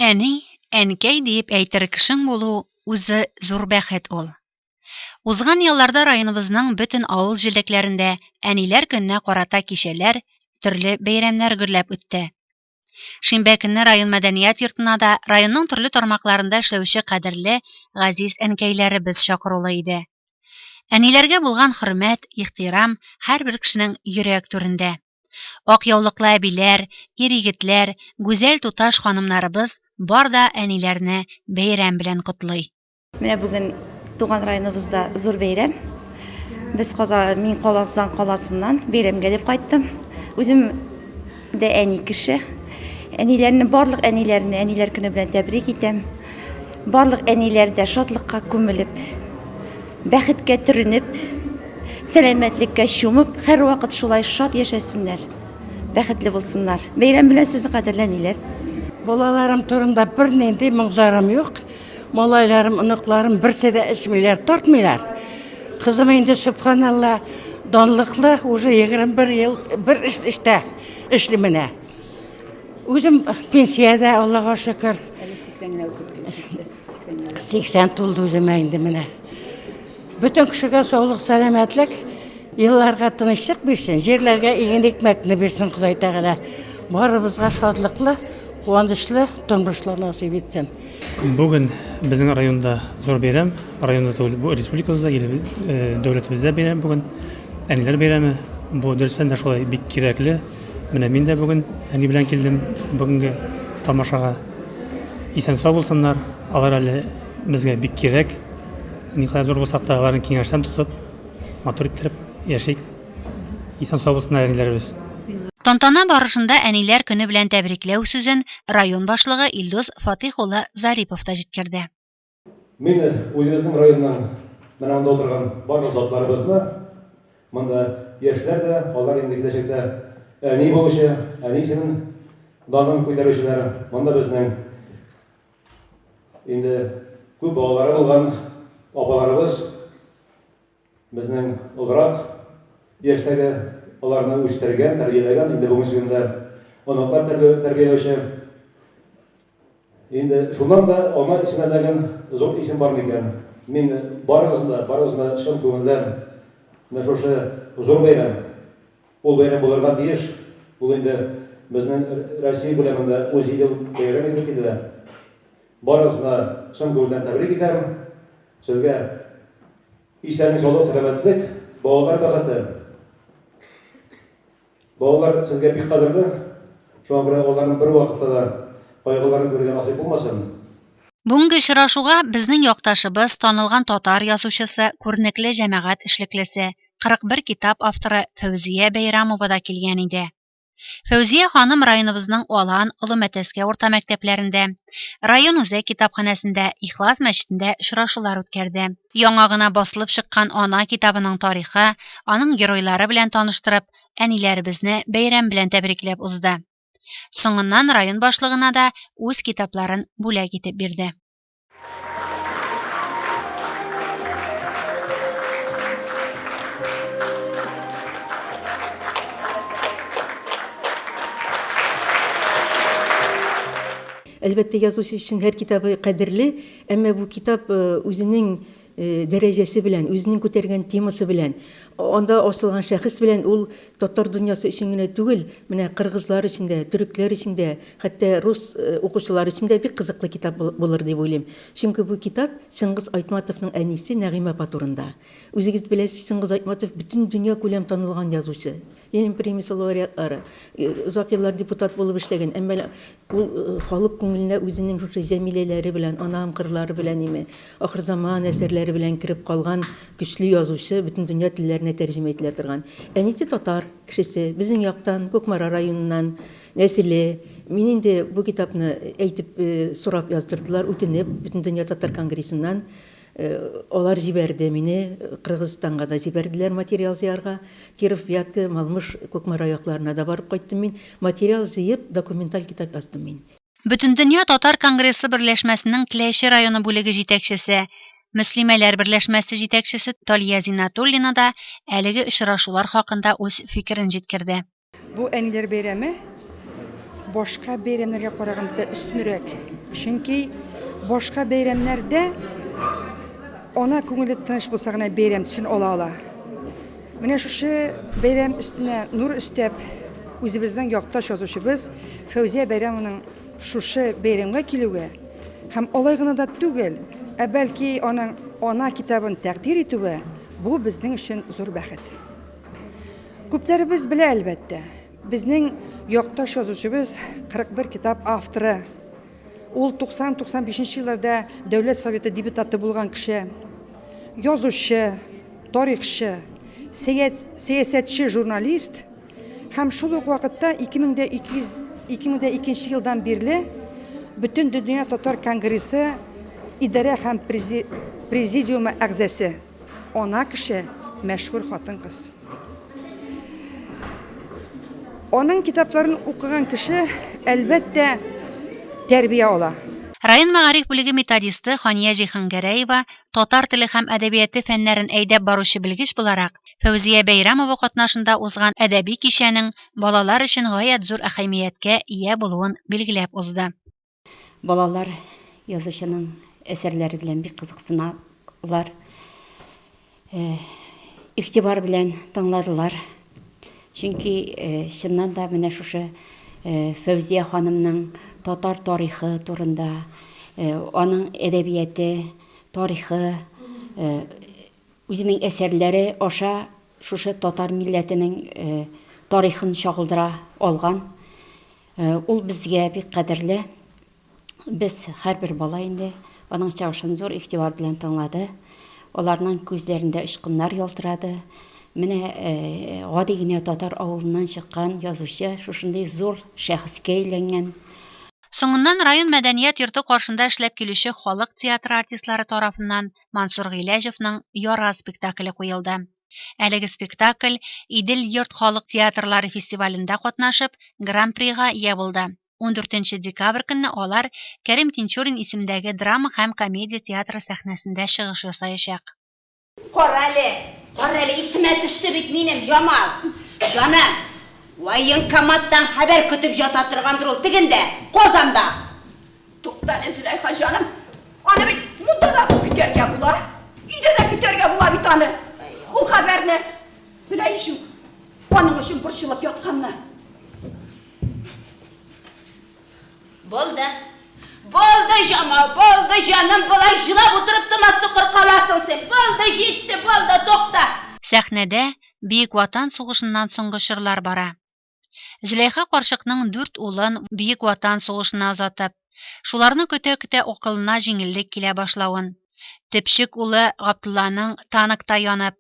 Әни, әнкәй диеп әйтер кешең булу үзе зур бәхет ул. Узган елларда районыбызның бөтен авыл җирлекләрендә әниләр көненә карата кичәләр, төрле бәйрәмнәр гөрләп үтте. Шимбә көнне район мәдәният йортына да районның төрле тармакларында эшләүче кадерле, газиз әнкәйләребез чакырулы иде. Әниләргә булган хөрмәт, ихтирам һәрбер кешенең йөрәк түрендә. Ак яулыклы әбиләр, ир-егетләр, гүзәл туташ ханымнарыбыз бар да әниләрне бәйрәм белән котлый. Менә бүген туган районыбызда зур бәйрәм. Без Каза, мин Казан каласыннан бәйрәмгә дип кайттым. Үзем дә әни кеше. Әниләрне, барлык әниләрне әниләр көне белән тәбрик итәм. Барлык әниләр дә шатлыкка күмелеп, Бәхеткә төренеп, сәламәтлеккә чумып, һәрвакыт шулай шат яшәсеннәр, бәхетле булсыннар. Бәйрәм белән сезне, кадерле әниләр! Балаларым турында бернинди моң-зарым юк. Малайларым, оныкларым берсе дә эчмиләр, тартмыйлар. Кызым инде, сөбханалла, данлыклы, уже 21 ел бер эштә эшли менә. Үзем пенсиядә, Аллага шөкер. Әле 80 генә үтеп китте. 80 тулды үземә инде менә. Бөтен кешегә саулык, сәламәтлек, елларга тынычлык бирсен, җирләргә иген икмәкне бирсен Ходай Тәгалә. Барыбызга шатлыклы, куанычлы тормышлар насыйп итсен. Бүген безнең районда зур бәйрәм, районда түгел, бу республикабызда, дәүләтебездә бәйрәм бүген. Әниләр бәйрәме. Бу дөрестән дә шулай бик кирәкле. Менә мин дә бүген әни белән килдем бүгенге тамашага. Исән-сау булсыннар. Алар әле безгә бик кирәк. Никадәр зур булсак та, аларны киңәштән тотып, матур иттереп яшик. Исән-сау булсыннар әниләребез. Тантана барышында Әниләр көне белән тәбрикләү сүзен район башлыгы Илдус Фатыйх улы Зарипов та җиткерде. Мин үзебезнең районның менә монда утырган барлык затларыбызны, монда яшьләр дә, алар инде киләчәктә әни булучы, әни исемен данын күтәрүчеләр, монда безнең инде күп балалары булган апаларыбыз, Безнең олырак яшьтәге аларны үстергән, тәрбияләгән, инде бүгенче көндә оныклар тәрбияләүче. Инде шуннан да ана исеменә дәген зур исем бар микән? Мин барыгызны да, барыгызны да чын күңелдән менә шушы зур бәйрәм, ул бәйрәм булырга тиеш, ул инде безнең Россия күләмендә 17 ел бәйрәм ителеп килә. Барыгызны чын күңелдән тәбрик итәм. Сезгә исәнлек саулык сәламәтлек балалар бәхете балалар сезгә бик кадерле шуңа күрә аларның бер вакытта да кайгыларын күрергә насыйп булмасын Бүгенге очрашуга безнең якташыбыз, танылган татар язучысы, күренекле җәмәгать эшлеклесе, 41 китап авторы Фәүзия Бәйрәмова да килгән иде. Фәүзия ханым районыбызның Алан, Олы Мәтәскә урта мәктәпләрендә, район үзәк китапханәсендә, Ихлас мәчетендә очрашулар үткәрде. Яңа гына басылып чыккан Ана китабының тарихы, аның геройлары белән таныштырып, әниләребезне бәйрәм белән тәбрикләп узды. Соңыннан район башлыгына да үз китапларын бүләк итеп бирде. Әлбәттә, язучы өчен һәр китабы кадерле, әмма бу китап үзенең дәрәҗәсе белән, үзенең күтәргән темасы белән, анда асылган шәхес белән ул татар дөньясы өчен генә түгел, менә кыргызлар өчен дә, төрекләр өчен дә, хәтта рус укучылары өчен дә бик кызыклы китап булыр дип уйлыйм. Чөнки бу китап Чыңгыз Айтматовның әнисе Нәгыймә апа турында. Үзегез беләсез, Чыңгыз Айтматов бөтен дөньякүләм танылган язучы, Ленин премиясе лауреатлары, озак еллар депутат булып эшләгән, әмма ул халык күңеленә үзенең шушы Җәмиләләре белән, Анам кырлары белән име, Ахырзаман әсәрләре белән кереп калган көчле язучы, бөтен дөнья телләренә тәрҗемә ителә торган. Әнисе татар кешесе, безнең яктан, Кукмара районыннан, нәселе. Мин инде бу китапны әйтеп, сорап яздырдылар, үтенеп, Бөтендөнья татар конгрессыннан Алар җибәрде, мине Кыргызстанга да җибәрделәр материал җыярга. Киров, Вятка, Малмыж, Кукмара якларына да барып кайттым мин. Материал җыеп, документаль китап яздым мин. Бөтендөнья татар конгрессы берләшмәсенең Теләче районы бүлеге җитәкчесе, Мөслимәләр берләшмәсе җитәкчесе Талия Зиннатуллина да әлеге очрашулар хакында үз фикерен җиткерде. Бу әниләр бәйрәме башка бәйрәмнәргә караганда да өстенрәк. Чөнки башка бәйрәмнәрдә ана күңеле тыныч булса гына бәйрәм төсен ала ала. Менә шушы бәйрәм өстенә нур өстәп, үзебезнең якташ язучыбыз Фәүзия Бәйрәмованың шушы бәйрәмгә килүе һәм алай гына да түгел, ә бәлки аның ана китабын тәкъдир итүе бу безнең өчен зур бәхет. Күпләребез белә, әлбәттә, безнең якташ язучыбыз 41 китап авторы. Ул 90-95 елларда Дәүләт Советы депутаты булган кеше. Язучы, тарихчы, сәясәтче, журналист һәм шул ук вакытта 2002 елдан бирле Бөтендөнья татар конгрессы идарә һәм президиумы әгъзасы. Ана кеше, мәшһүр хатын-кыз. Аның китапларын укыган кеше, әлбәттә, тәрбия ала. Район мәгариф бүлеге методисты Хания Җиһангәрәева, татар теле һәм әдәбияты фәннәрен әйдәп баручы белгеч буларак, Фәүзия Бәйрәмова катнашында узган әдәби кичәнең балалар өчен гаять зур әһәмияткә ия булуын билгеләп узды. Балалар язучының әсәрләре белән бик кызыксыналар, э, игътибар белән тыңладылар. Чөнки э, чыннан да менә шушы э, Фәүзия ханымның татар тарихы турында, э, аның әдәбияте, тарихы, э, үзенең әсәрләре аша шушы татар милләтенең э, тарихын чагылдыра алган. Э, ул безгә бик кадерле. Без һәрбер бала инде аның чыгышын зур игътибар белән тыңлады. Аларның күзләрендә очкыннар ялтырады. Менә э, гади генә татар авылыннан чыккан язучы шушындый зур шәхескә әйләнгән. Соңыннан район мәдәният йорты каршында эшләп килүче халык театры артистлары тарафыннан Мансур Гыйләҗевның Яра спектакле куелды. Әлеге спектакль Идел йорт халык театрлары фестивалендә катнашып, Гран-прига ия булды. 14 декабрь көнне алар Кәрим Тинчурин исемдәге драма һәм комедия театры сәхнәсендә чыгыш ясаячак. Карале, карале, исемә төште бит минем Җамал. Җаным, военкоматтан хәбәр көтеп җата торгандыр ул тегендә, Казанда. Тукта әле, Зөләйха җаным. Аны бит монда да көтәргә була. Өйдә дә көтәргә була бит аны. Ул хәбәрне белә ишү. Аның өчен борчылып ятканны. Булды. Булды, Җамал, булды, җаным, болай җылап утырып тома сукыр каласың син. Булды, җитте, булды, тукта. Сәхнәдә Бөек Ватан сугышыннан соңгы чорлар бара. Зөләйха карчыкның дүрт улын Бөек Ватан сугышына озатып, шуларны көтә-көтә акылына җиңеллек килә башлавын, төпчек улы Габдулланың танкта янып,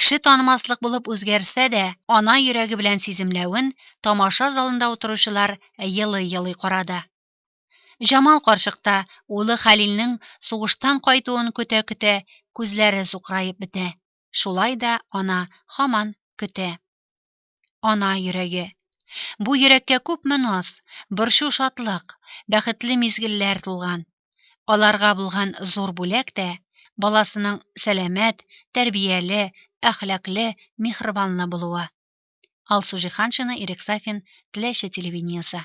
кеше танымаслык булып үзгәрсә дә, ана йөрәге белән сиземләвен тамаша залында утыручылар елый-елый карады. Җамал карчык та улы Хәлилнең сугыштан кайтуын көтә-көтә күзләре сукыраеп бетә. Шулай да ана һаман көтә. Ана йөрәге. Бу йөрәккә күпме наз, борчу шатлык, бәхетле мизгелләр тулган. Аларга булган зур бүләк тә баласының сәламәт, тәрбияле, әхлакле, михрибанлы булуы. Алсу Җиһаншина, Ирек Сафин, Теләче телевидениесе.